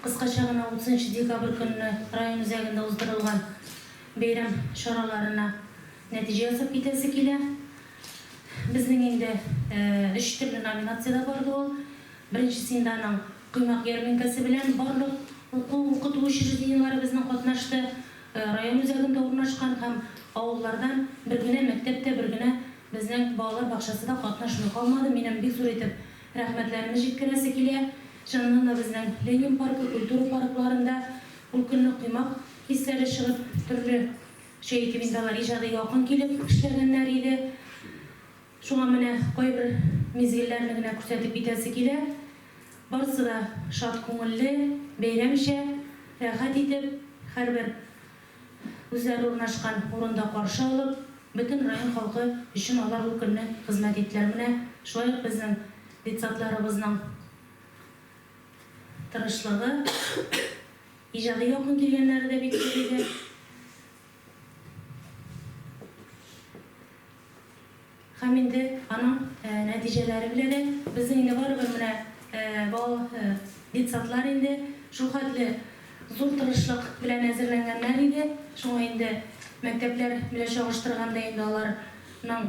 Кыскача гына утызынчы декабрь көнне район үзәгендә уздырылган бәйрәм чараларына нәтиҗә ясап китәсе килә. Безнең инде өч төрле номинациядә барды ул. Беренчесендә аның Коймак ярминкәсе белән барлык уку-укыту учреждениеләребезнең катнашты. Район үзәгендә урнашкан һәм авыллардан бер генә мәктәп тә, бер генә безнең балалар бакчасы да катнашмый калмады. Минем бик зур итеп рәхмәтләремне җиткерәсе килә. Чыннан да безнең Ленин паркы, культура паркларында ул көнне коймак хисләре чыгып, төрле чә итеп инде алар иҗади якын килеп эшләгәннәр иде. Шуңа менә кайбер мизгелләрне генә күрсәтеп китәсе килә. Барысы да шат күңелле, бәйрәмчә, рәхәт итеп, һәрбер. Үзләре урнашкан урында каршы алып, бөтен район халкы өчен алар ул көнне хезмәт иттеләр. Менә шулай ук безнең детсадларыбызның тырышлыгы, иҗади яктан килгәннәре дә бик күп иде. Һәм инде аның нәтиҗәләре белә дә. Безнең инде барыбер менә бал детсадлар инде шул хәтле зур тырышлык белән әзерләнгәннәр иде. Шуңа инде мәктәпләр белән чагыштырганда инде аларның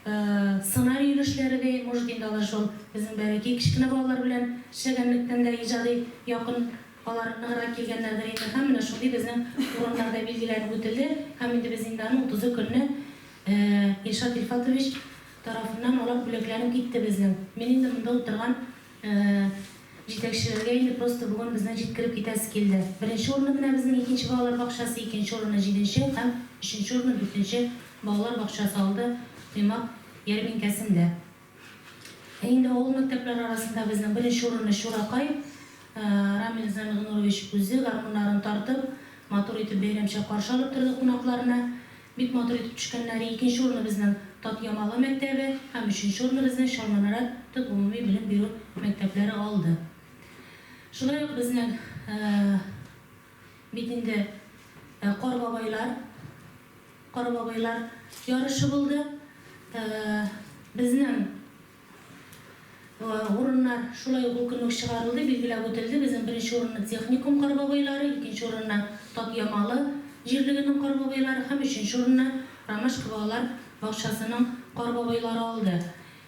сценарий өлешләре дә, может, инде алар шул безнең бәләкәй кечкенә балалар белән эшләгәнлектән дә иҗади якын алар ныграк килгәннәрдер инде. Һәм менә шундый безнең урыннар да билгеләнеп үтелде. Һәм инде без инде аны утызы көнне Ә, Илшат Илфатович тарафыннан алар бүләкләнеп китте безнең. Мин инде монда утырган, ә, җитәкчеләргә инде просто бүген безнең җиткереп китәсе килде. Беренче урынны менә безнең икенче балалар бакчасы, икенче урынны җиденче һәм өченче урынны дүртенче балалар бакчасы алды коймак ярминкәсендә. Ә инде авыл мәктәпләре арасында безнең беренче урынны Чуракай, ә, Рамил Зәмигънурович үзе гармуннарын тартып, матур итеп бәйрәмчә каршы алып торды кунакларны. Бик матур итеп төшкәннәр. Икенче урынны безнең Татъямалы мәктәбе һәм өченче урынны безнең Чалманара төп гомуми белем бирү мәктәпләре алды. Шулай ук безнең бит инде Кар бабайлар Кар бабайлар ярышы булды. Безнең. Урыннар шулай ук ул көнне үк чыгарылды, билгеләп үтелде. Безнең беренче урынны Техникум Карбабайлары, икенче урынны Татъямалы җирлегенең Карбабайлары һәм өченче урынны Ромашка балалар бакчасының Карбабайлары алды.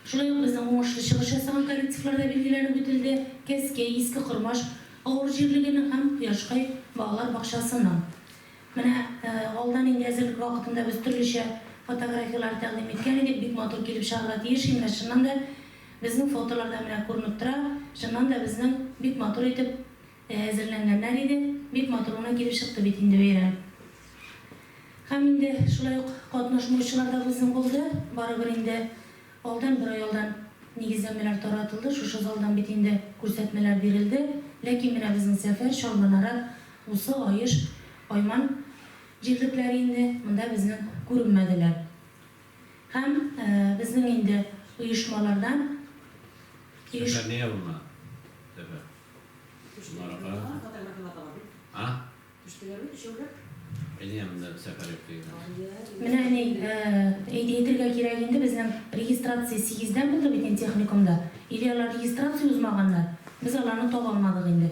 Шулай ук безнең уңышлы чыгыш ясаган коллективлар да билгеләнеп үтелде, Кәскәй, Иске Кормаш авыл җирлегенең һәм Кояшкай балалар бакчасының. Менә алда нинди әзерлек вакытында без төрлечә фотографияләр тәкъдим иткән идек, бик матур килеп чыгарга тиеш, и менә чыннан да безнең фотоларда менә күренеп тора, чыннан да безнең бик матур итеп әзерләнгәннәр иде, бик матур гына килеп чыкты бит инде бәйрәм. Һәм инде шулай ук катнашмаучылар да безнең булды, барыбер инде алдан бер ай алдан нигезләмәләр таратылды, шушы залдан бит инде күрсәтмәләр бирелде, ләкин менә безнең сәфәр Чалманара Усы аеш айман җирлекләре инде монда безнең күренмәделәр. Һәм безнең инде оешмалардан оеш. Сәфәр нигә булмады? Сәфәр. Шуларга карамастан. Фотографияләр дә бар бит. А? Төштеләр бит өчәүләп. Әйдә монда сәфәр юк дигән. Менә әни, әйтергә кирәк инде, безнең регистрация сигездән булды бит инде техникумда. Или алар регистрация узмаганнар, без аларны таба алмадык инде.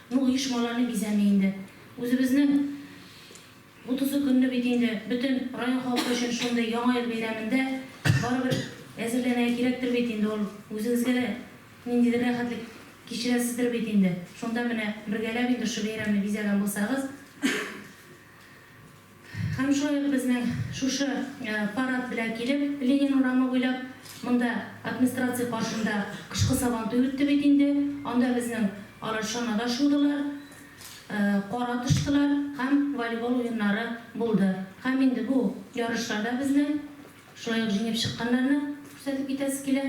Бу оешмаларны бизәми инде. Үзебезнең утызы көнне бит инде бөтен район халкы өчен шундый Яңа ел бәйрәмендә барыбер әзерләнергә кирәктер бит инде ул. Үзегезгә дә ниндидер рәхәтлек кичерәсездер бит инде. Шунда менә бергәләп инде шушы бәйрәмне бизәгән булсагыз. Һәм шулай ук безнең шушы парад белән килеп, Ленин урамы буйлап, монда администрация каршында кышкы сабантуй үтте бит инде, анда безнең алар чанада шудылар, кар атыштылар һәм волейбол уеннары булды. Һәм инде бу ярышларда безнең шулай ук җиңеп чыкканнарны күрсәтеп китәсе килә.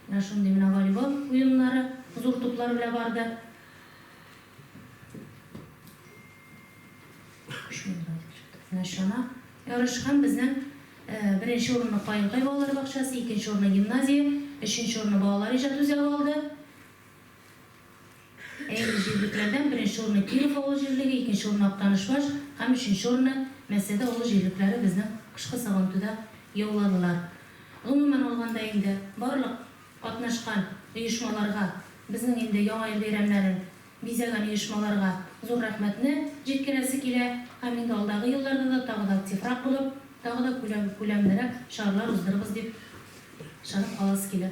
Менә шундый менә волейбол уеннары зур туплар белән барды. Чана ярыш һәм безнең беренче урынны Каенкай балалар бакчасы, икенче урынны гимназия, өченче урынны балалар иҗат үзәге алды. Әйе, җирлекләрдән беренче урынны Киров авыл җирлеге, икенче урынны Актанышбаш һәм өченче урынны Мәсәде авыл җирлекләре безнең кышкы сабантуйда яуладылар. Гомумән алганда инде барлык Катнашкан оешмаларга, безнең инде Яңа ел бәйрәмнәрен бизәгән оешмаларга зур рәхмәтне җиткерәсе килә һәм инде алдагы елларда да тагы да активрак булып, тагы да күләмлерәк чаралар уздырырбыз дип ышанып каласы килә.